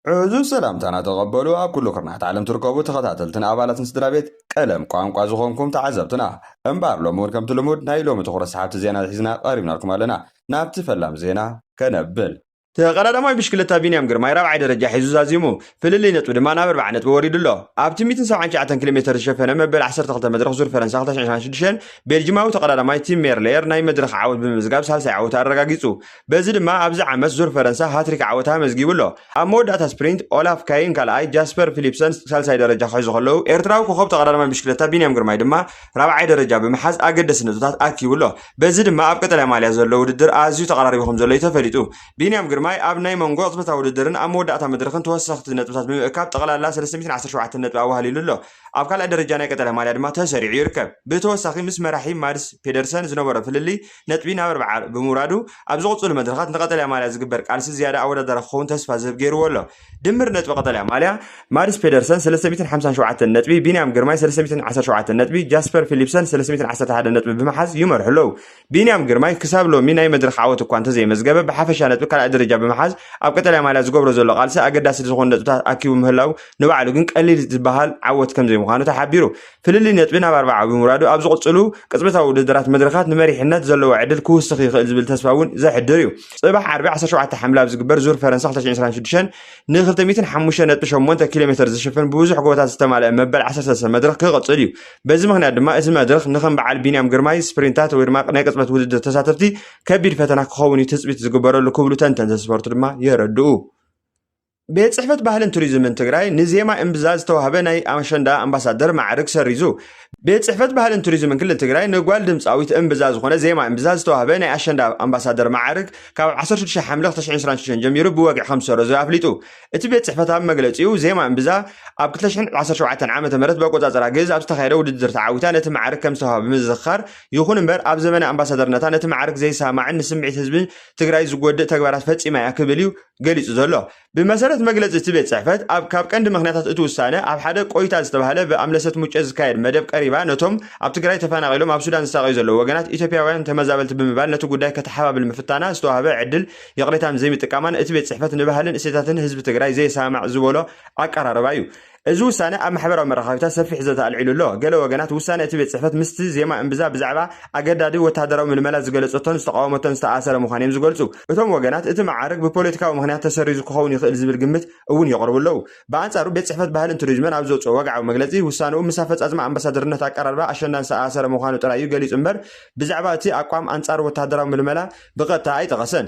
ዕዙዝ ሰላምታና ተቐበሉ ኣብ ኩሉ ኩርናዓት ዓለም ትርከቡ ተኸታተልትን ኣባላትን ስድራቤት ቀለም ቋንቋ ዝኾንኩም ተዓዘብትና። እምበኣር ሎሚ ውን ከምቲ ልሙድ ናይ ሎሚ ትኹረት ሰሓብቲ ዜና ሒዝና ቀሪብናልኩም ኣለና። ናብቲ ፈላም ዜና ከነብል። ተቐዳዳማይ ብሽክለታ ቢንያም ግርማይ ራብዓይ ደረጃ ሒዙ ዛዚሙ። ፍልልይ ነጥቢ ድማ ናብ ኣርብዓ ነጥቢ ወሪዱ ኣሎ። ኣብቲ ሚእትን ሰብዓን ትሽዓተን ኪሎሜተር ዝሸፈነ መበል ዓሰርተ ክልተ መድረኽ ዙር ፈረንሳ ክልተ ሽሕን ሸሞንተን ሽዱሽተን ቤልጂማዊ ተቐዳዳማይ ቲም ሜርሌየር ናይ መድረኽ ዓወት ብምምዝጋብ ሳልሳይ ዓወቱ ኣረጋጊጹ። በዚ ድማ ኣብዚ ዓመት ዙር ፈረንሳ ሃትሪክ ዓወት ኣመዝጊቡ ኣሎ። ኣብ መወዳእታ ስፕሪንት ኦላፍ ካይን ካልኣይ፣ ጃስፐር ፊሊፕሰን ሳልሳይ ደረጃ ክሕዙ ከለዉ፣ ኤርትራዊ ኮኾብ ተቐዳዳማይ ብሽክለታ ቢንያም ግርማይ ድማ ራብዓይ ደረጃ ብምሓዝ ኣገደስቲ ነጥብታት ኣኪቡ ኣሎ። በዚ ድማ ኣብ ቀጠልያ ማልያ ዘሎ ውድድር ኣዝዩ ተቐራሪቡ ከምዘሎ እዩ ተፈሊጡ። ቢንያም ግርማይ ኣብ ናይ መንጎ ቅጽበታዊ ውድድርን ኣብ መወዳእታ መድረኽን ተወሰኽቲ ነጥብታት ብምእካብ ጠቕላላ ሰለስተ ሚእትን ዓሰርተ ሸውዓተን ነጥቢ ኣዋህሊሉ ኣሎ። ኣብ ካልኣይ ደረጃ ናይ ቀጠልያ ማልያ ድማ ተሰሪዑ ይርከብ። ብተወሳኺ ምስ መራሒ ማድስ ፔደርሰን ዝነበሮ ፍልልይ ነጥቢ ናብ ኣርብዓ ብምውራዱ ኣብ ዝቕፅሉ መድረኻት ንቀጠልያ ማልያ ዝግበር ቃልሲ ዝያዳ ኣወዳዳሪ ክኸውን ተስፋ ዝህብ ገይርዎ ኣሎ። ድምር ነጥቢ ቀጠልያ ማልያ፣ ማድስ ፔደርሰን ሰለስተ ሚእትን ሓምሳን ሸውዓተን ነጥቢ፣ ቢንያም ግርማይ ሰለስተ ሚእትን ዓሰርተ ሸውዓተን ነጥቢ፣ ጃስፐር ፊሊፕሰን ሰለስተ ሚእትን ዓሰርተ ሓደን ነጥቢ ብምሓዝ ይመርሑ ኣለዉ። ቢንያም ግርማይ ክሳብ ሎሚ ናይ መድረኽ ዓወት እኳ እንተዘየመዝገበ ብሓፈሻ ነጥቢ ካልኣይ ደረጃ ብምሓዝ ኣብ ቀጠልያ ማልያ ዝገብሮ ዘሎ ቃልሲ ኣገዳሲ ዝኾኑ ነጥብታት ኣኪቡ ምህላዉ ንባዕሉ ግን ቀሊል ዝበሃል ዓወት ከምዘይምዃኑ ተሓቢሩ። ፍልልይ ነጥቢ ናብ ኣርብዓ ብምውራዱ ኣብ ዝቕፅሉ ቅፅበታዊ ውድድራት መድረኻት ንመሪሕነት ዘለዎ ዕድል ክውስኽ ይኽእል ዝብል ተስፋ እውን ዘሕድር እዩ። ፅባሕ ዓርቢ ዓሰርተ ሸውዓተ ሓምለ ኣብ ዝግበር ዙር ፈረንሳ ክልተ ሽሕን ዕስራን ሽዱሽተን ንክልተ ሚእትን ሓሙሽተን ነጥቢ ሸሞንተ ኪሎ ሜተር ዝሽፍን ብብዙሕ ጎቦታት ዝተማልአ መበል ዓሰርተ ሰለስተ መድረኽ ክቕፅል እዩ። በዚ ምኽንያት ድማ እቲ መድረኽ ንከም በዓል ቢንያም ግርማይ ስፕሪንታት ወይ ድማ ናይ ቅፅበት ውድድር ተሳተፍቲ ከቢድ ፈተና ክኸውን እዩ ትፅቢት ዝግበረሉ ክብሉ ተንተንቲ ስፖርት ድማ የረድኡ። ቤት ፅሕፈት ባህልን ቱሪዝምን ትግራይ ንዜማ እምብዛ ዝተዋህበ ናይ ኣሸንዳ ኣምባሳደር ማዕርግ ሰሪዙ። ቤት ፅሕፈት ባህልን ቱሪዝምን ክልል ትግራይ ንጓል ድምፃዊት እምብዛ ዝኾነ ዜማ እምብዛ ዝተዋህበ ናይ ኣሸንዳ ኣምባሳደር ማዕርግ ካብ 16 ሓምለ 2026 ጀሚሩ ብወግዒ ከም ዝሰረዞ ኣፍሊጡ። እቲ ቤት ፅሕፈት ኣብ መግለፂኡ ዜማ እምብዛ ኣብ 2017 ዓ ም ብኣቆፃፅራ ግእዝ ኣብ ዝተኻየደ ውድድር ተዓዊታ ነቲ ማዕርግ ከም ዝተዋህበ ብምዝኽኻር ይኹን እምበር ኣብ ዘመነ ኣምባሳደርነታ ነቲ ማዕርግ ዘይሰማዕን ንስምዒት ህዝቢ ትግራይ ዝጎድእ ተግባራት ፈፂማ እያ ክብል እዩ ገሊጹ ዘሎ። ብመሰረት መግለጺ እቲ ቤት ጽሕፈት፣ ኣብ ካብ ቀንዲ ምኽንያታት እቲ ውሳነ፣ ኣብ ሓደ ቆይታ ዝተባህለ ብኣምለሰት ሙጬ ዝካየድ መደብ ቀሪባ ነቶም ኣብ ትግራይ ተፈናቒሎም ኣብ ሱዳን ዝሳቐዩ ዘለዉ ወገናት ኢትዮጵያውያን ተመዛበልቲ ብምባል ነቲ ጉዳይ ከተሓባብል ምፍታና ዝተዋህበ ዕድል ይቕሬታን ዘይምጥቃማን እቲ ቤት ጽሕፈት ንባህልን እሴታትን ህዝቢ ትግራይ ዘየሰማማዕ ዝበሎ ኣቀራርባ እዩ እዚ ውሳነ ኣብ ማሕበራዊ መራኸቢታት ሰፊሕ ዘተ ኣልዒሉ ኣሎ። ገለ ወገናት፣ ውሳነ እቲ ቤት ጽሕፈት ምስቲ ዜማ እምብዛ ብዛዕባ ኣገዳዲ ወተሃደራዊ ምልመላ ዝገለጸቶን ዝተቓወመቶን ዝተኣኣሰረ ምዃኑ እዮም ዝገልጹ። እቶም ወገናት፣ እቲ መዓርግ ብፖለቲካዊ ምኽንያት ተሰሪዙ ክኸውን ይኽእል ዝብል ግምት እውን የቕርቡ ኣለዉ። ብኣንጻሩ ቤት ጽሕፈት ባህልን ቱሪዝምን ኣብ ዘውጽኦ ወግዓዊ መግለጺ፣ ውሳነኡ ምስ ኣፈጻጽማ ኣምባሳደርነት ኣቀራርባ ኣሸንዳን ዝተኣኣሰረ ምዃኑ ጥራይ እዩ ገሊጹ እምበር ብዛዕባ እቲ ኣቋም ኣንጻር ወተሃደራዊ ምልመላ ብቐጥታ ኣይጠቐሰን።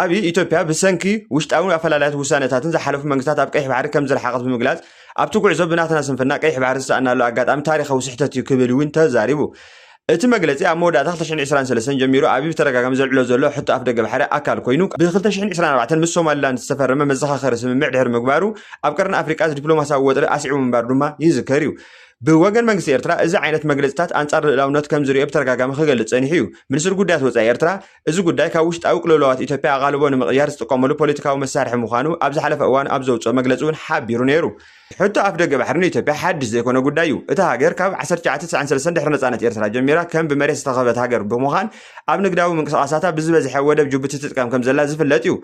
ኣብይ፣ ኢትዮጵያ ብሰንኪ ውሽጣዊ ኣፈላላያትን ውሳነታትን ዝሓለፉ መንግስታት ኣብ ቀይሕ ባሕሪ ከምዝረሓቐት ብምግላጽ፣ ኣብቲ ጉዕዞ ብናትና ስንፍና ቀይሕ ባሕሪ ዝሰኣናሉ ኣጋጣሚ ታሪኻዊ ስሕተት'ዩ ክብል እውን ተዛሪቡ። እቲ መግለጺ ኣብ መወዳእታ ክልተ ሽሕን ዕስራን ሰለስተን ጀሚሩ ኣብይ ብተደጋጋሚ ዘልዕሎ ዘሎ ሕቶ ኣፍደገ ባሕሪ ኣካል ኮይኑ፣ ብ ክልተ ሽሕን ዕስራን ኣርባዕተን ምስ ሶማሊላንድ ዝተፈረመ መዘኻኸሪ ስምምዕ ድሕሪ ምግባሩ ኣብ ቀርኒ ኣፍሪቃ ዲፕሎማስያዊ ወጥሪ ኣስዒቡ ምንባሩ ድማ ይዝከር'ዩ። ብወገን መንግስቲ ኤርትራ እዚ ዓይነት መግለጺታት ኣንጻር ልእላውነት ከምዝርእዮ ብተደጋጋሚ ክገልጽ ጸኒሑ'ዩ። ሚኒስትሪ ጉዳያት ወጻኢ ኤርትራ፣ እዚ ጉዳይ ካብ ውሽጣዊ ቅልውላዋት ኢትዮጵያ ኣቓልቦ ንምቕያር ዝጥቀመሉ ፖለቲካዊ መሳርሒ ምዃኑ ኣብ ዝሓለፈ እዋን ኣብ ዘውጽኦ መግለጺ እውን ሓቢሩ ነይሩ። ሕቶ ኣፍደገ ባሕሪ ንኢትዮጵያ ሓድሽ ዘይኮነ ጉዳይ እዩ። እታ ሃገር ካብ ዓሰርተ ትሽዓተ ትስዓን ሰለስተን ድሕሪ ነጻነት ኤርትራ ጀሚራ ከም ብመሬት ዝተኸበበት ሃገር ብምዃን ኣብ ንግዳዊ ምንቅስቓሳታ ብዝበዝሐ ወደብ ጅቡቲ ትጥቀም ከም ዘላ ዝፍለጥ እዩ።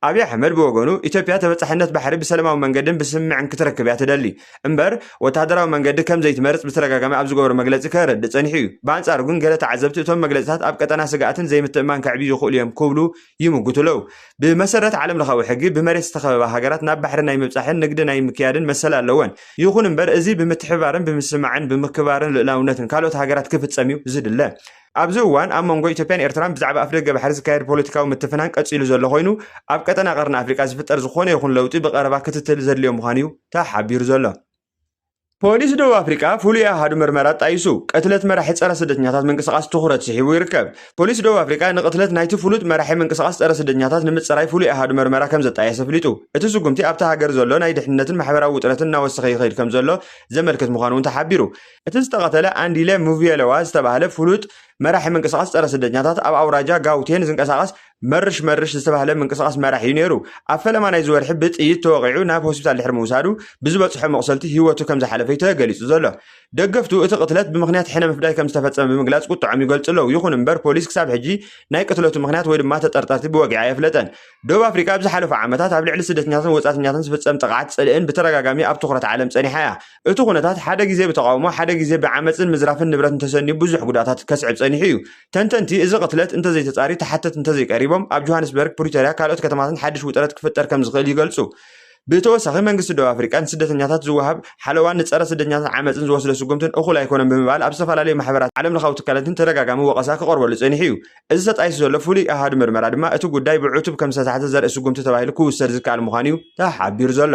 ኣብይ ኣሕመድ ብወገኑ ኢትዮጵያ ተበጻሕነት ባሕሪ ብሰለማዊ መንገድን ብስምምዕን ክትረክብ እያ ትደሊ። እምበር ወተሃደራዊ መንገዲ ከም ዘይትመርጽ ብተደጋጋሚ ኣብ ዝገበሮ መግለጺ ከረድእ ጸኒሑ እዩ። ብኣንጻሩ ግን ገለ ተዓዘብቲ እቶም መግለጺታት ኣብ ቀጠና ስግኣትን ዘይምትእምማን ከዕብዩ ይኽእሉ እዮም ክብሉ ይምጉቱ ኣለዉ። ብመሰረት ዓለምለኻዊ ሕጊ ብመሬት ዝተኸበባ ሃገራት ናብ ባሕሪ ናይ ምብጻሕን ንግዲ ናይ ምክያድን መሰል ኣለወን። ይኹን እምበር እዚ ብምትሕብባርን ብምስምማዕን ብምክብባርን ልኡላውነትን ካልኦት ሃገራት ክፍጸም እዩ ዝድለ። ኣብዚ እዋን ኣብ መንጎ ኢትዮጵያን ኤርትራን ብዛዕባ ኣፍደገ ባሕሪ ዝካየድ ፖለቲካዊ ምትፍናን ቀጺሉ ዘሎ ኮይኑ፣ ኣብ ቀጠና ቀርኒ ኣፍሪቃ ዝፍጠር ዝኾነ ይኹን ለውጢ ብቐረባ ክትትል ዘድልዮ ምዃኑ'ዩ ተሓቢሩ ዘሎ። ፖሊስ ደቡብ ኣፍሪቃ ፍሉይ ኣሃዱ ምርመራ ኣጣይሱ፣ ቅትለት መራሒ ጸረ ስደተኛታት ምንቅስቓስ ትኹረት ስሒቡ ይርከብ። ፖሊስ ደቡብ ኣፍሪቃ ንቕትለት ናይቲ ፍሉጥ መራሒ ምንቅስቓስ ጸረ ስደተኛታት ንምጽራይ ፍሉይ ኣሃዱ ምርመራ ከም ዘጣየሰ ኣፍሊጡ። እቲ ስጉምቲ ኣብታ ሃገር ዘሎ ናይ ድሕንነትን ማሕበራዊ ውጥረትን እናወሰኸ ይኸይድ ከም ዘሎ ዘመልክት ምዃኑ'ውን ተሓቢሩ። እቲ ዝተቐተለ ኣንዲለ ሙቭየለዋ ዝተባህለ ፍሉጥ መራሒ ምንቅስቓስ ጸረ ስደተኛታት ኣብ ኣውራጃ ጋውቴን ዝንቀሳቐስ መርሽ መርሽ ዝተባህለ ምንቅስቓስ መራሒ እዩ ነይሩ። ኣብ ፈለማ ናይዚ ወርሒ ብጥይት ተወቒዑ ናብ ሆስፒታል ድሕሪ ምውሳዱ ብዝበጽሖ መቑሰልቲ ህይወቱ ከም ዝሓለፈ'ዩ ተገሊጹ ዘሎ። ደገፍቱ እቲ ቅትለት ብምኽንያት ሕነ ምፍዳይ ከም ዝተፈጸመ ብምግላጽ ቁጥዐኦም ይገልጹ ኣለዉ። ይኹን እምበር ፖሊስ ክሳብ ሕጂ ናይ ቅትለቱ ምኽንያት ወይ ድማ ተጠርጠርቲ ብወግዒ ኣየፍለጠን። ደቡብ ኣፍሪቃ ኣብ ዝሓለፉ ዓመታት ኣብ ልዕሊ ስደተኛታትን ወጻእተኛታትን ዝፍጸም ጥቕዓት ጽልእን ብተደጋጋሚ ኣብ ትኹረት ዓለም ጸኒሓ እያ። እቲ ኩነታት ሓደ ግዜ ብተቓውሞ ሓደ ግዜ ብዓመጽን ምዝራፍን ንብረትን ተሰንዩ ብዙሕ ጉድኣታት ከስዕብ ጸኒሑ እዩ። ተንተንቲ፣ እዚ ቅትለት እንተዘይተጻርዩ ተሓተቲ እንተዘይቀሪቦም፣ ኣብ ጆሃንስበርግ፣ ፕሪቶርያ ካልኦት ከተማታትን ሓድሽ ውጥረት ክፍጠር ከምዝኽእል ይገልጹ። ብተወሳኺ መንግስቲ ደቡብ ኣፍሪቃ ንስደተኛታት ዝወሃብ ሓለዋን ንጸረ ስደተኛታት ዓመጽን ዝወስዶ ስጉምትን እኹል ኣይኮነን ብምባል ኣብ ዝተፈላለዩ ማሕበራትን ዓለምለኻዊ ትካላትን ተደጋጋሚ ወቐሳ ክቐርበሉ ጸኒሑ እዩ። እዚ ተጣይሱ ዘሎ ፍሉይ ኣሃዱ ምርመራ ድማ እቲ ጉዳይ ብዕቱብ ከምዝተታሕዘ ዘርኢ ስጉምቲ ተባሂሉ ክውሰድ ዝከኣል ምዃኑ እዩ ተሓቢሩ ዘሎ።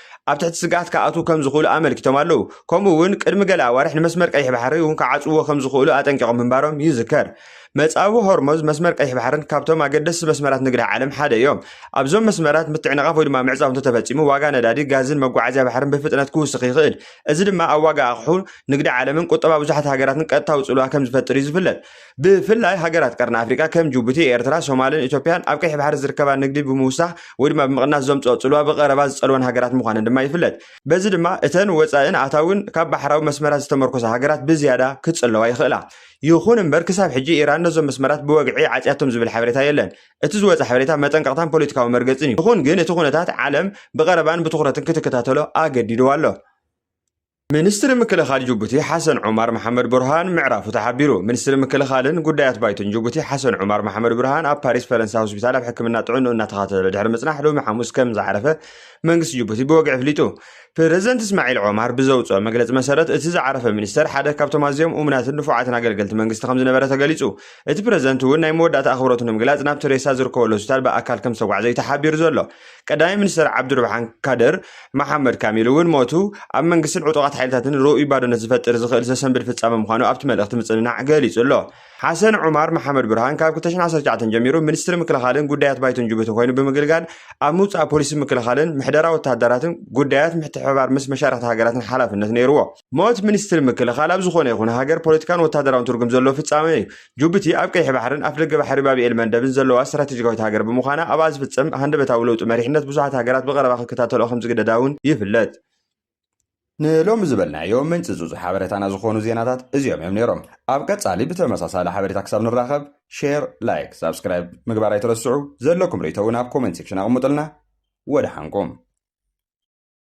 ኣብ ትሕቲ ስግኣት ክኣትዉ ከም ዝኽእሉ ኣመልኪቶም ኣለዉ። ከምኡ እውን ቅድሚ ገለ ኣዋርሕ ንመስመር ቀይሕ ባሕሪ እውን ክዓጽውዎ ከም ዝኽእሉ ኣጠንቂቖም ምንባሮም ይዝከር። መጻብቦ ሆርሞዝ፣ መስመር ቀይሕ ባሕርን ካብቶም ኣገደስቲ መስመራት ንግዲ ዓለም ሓደ እዮም። ኣብዞም መስመራት ምትዕንቓፍ ወይ ድማ ምዕጻው እንተተፈጺሙ ዋጋ ነዳዲ፣ ጋዝን መጓዓዝያ ባሕርን ብፍጥነት ክውስኽ ይኽእል። እዚ ድማ ኣብ ዋጋ ኣቕሑ፣ ንግዲ ዓለምን ቁጠባ ብዙሓት ሃገራትን ቀጥታዊ ጽልዋ ከም ዝፈጥር እዩ ዝፍለጥ። ብፍላይ ሃገራት ቀርኒ ኣፍሪቃ ከም ጁቡቲ፣ ኤርትራ፣ ሶማልን ኢትዮጵያን ኣብ ቀይሕ ባሕሪ ዝርከባ ንግዲ ብምውሳኽ ወይ ድማ ብምቕናስ ዘምጽኦ ጽልዋ ብቐረባ ዝጸልወን ሃገራት ምዃነን ድማ ይፍለጥ። በዚ ድማ እተን ወጻኢን ኣታዊን ካብ ባሕራዊ መስመራት ዝተመርኮሳ ሃገራት ብዝያዳ ክጽለዋ ይኽእላ። ይኹን እምበር ክሳብ ሕጂ ኢራን ነዞም መስመራት ብወግዒ ዓጽያቶም ዝብል ሓበሬታ የለን። እቲ ዝወጸ ሓበሬታ መጠንቀቕታን ፖለቲካዊ መርገጽን እዩ። ይኹን ግን እቲ ኩነታት ዓለም ብቐረባን ብትኹረትን ክትከታተሎ ኣገዲድዋ ኣሎ። ሚኒስትሪ ምክልኻል ጅቡቲ ሓሰን ዑማር መሓመድ ቡርሃን ምዕራፉ ተሓቢሩ። ሚኒስትሪ ምክልኻልን ጉዳያት ባይቶን ጅቡቲ ሓሰን ዑማር መሓመድ ቡርሃን ኣብ ፓሪስ ፈረንሳ ሆስፒታል ኣብ ሕክምና ጥዕንኡ እናተኸታተለ ድሕሪ ምጽናሕ ሎሚ ሓሙስ ከም ዝዓረፈ መንግስቲ ጅቡቲ ብወግዒ ኣፍሊጡ። ፕረዚደንት እስማዒል ዖማር ብዘውፅኦ መግለፂ መሰረት እቲ ዝዓረፈ ሚኒስተር ሓደ ካብቶም ኣዝዮም እሙናትን ንፉዓትን ኣገልገልቲ መንግስቲ ከም ዝነበረ ተገሊፁ እቲ ፕረዚደንት እውን ናይ መወዳእታ ኣኽብሮቱ ንምግላፅ ናብቲ ሬሳ ዝርከበሉ ሆስፒታል ብኣካል ከም ዝተጓዕዘ እዩ ተሓቢሩ ዘሎ ቀዳማይ ሚኒስተር ዓብዱርብሓን ካደር መሓመድ ካሚል እውን ሞቱ ኣብ መንግስትን ዕጡቓት ሓይልታትን ርኡይ ባዶነት ዝፈጥር ዝኽእል ዘሰንብድ ፍጻመ ምዃኑ ኣብቲ መልእኽቲ ምጽንናዕ ገሊጹ ኣሎ። ሓሰን ዑማር መሓመድ ብርሃን ካብ 2019 ጀሚሩ ሚኒስትሪ ምክልኻልን ጉዳያት ባይቶን ጅቡቲ ኮይኑ ብምግልጋል ኣብ ምውጻእ ፖሊሲ ምክልኻልን ምሕደራ ወተሃደራትን ጉዳያት ምትሕብባር ምስ መሻርኽቲ ሃገራትን ሓላፍነት ነይርዎ። ሞት ሚኒስትሪ ምክልኻል ኣብ ዝኾነ ይኹን ሃገር ፖለቲካን ወታደራውን ትርጉም ዘለዎ ፍጻሜ እዩ። ጁቡቲ ኣብ ቀይሕ ባሕርን ኣፍደገ ባሕሪ ባብኤል መንደብን ዘለዋ ስትራቴጂካዊት ሃገር ብምዃና ኣብኣ ዝፍጸም ሃንደበታዊ ለውጢ መሪሕነት ብዙሓት ሃገራት ብቐረባ ክከታተልኦ ከምዝግደዳ እውን ይፍለጥ። ንሎሚ ዝበልናዮ ምንጽጹጽ ሓበሬታና ዝኾኑ ዜናታት እዚኦም እዮም ነይሮም። ኣብ ቀጻሊ ብተመሳሳሊ ሓበሬታ ክሳብ ንራኸብ ሼር፣ ላይክ፣ ሳብስክራይብ ምግባር ኣይትረስዑ። ዘለኩም ርእይቶ እውን ኣብ ኮሜንት ሴክሽን ኣቕምጡልና። ወደሓንኩም።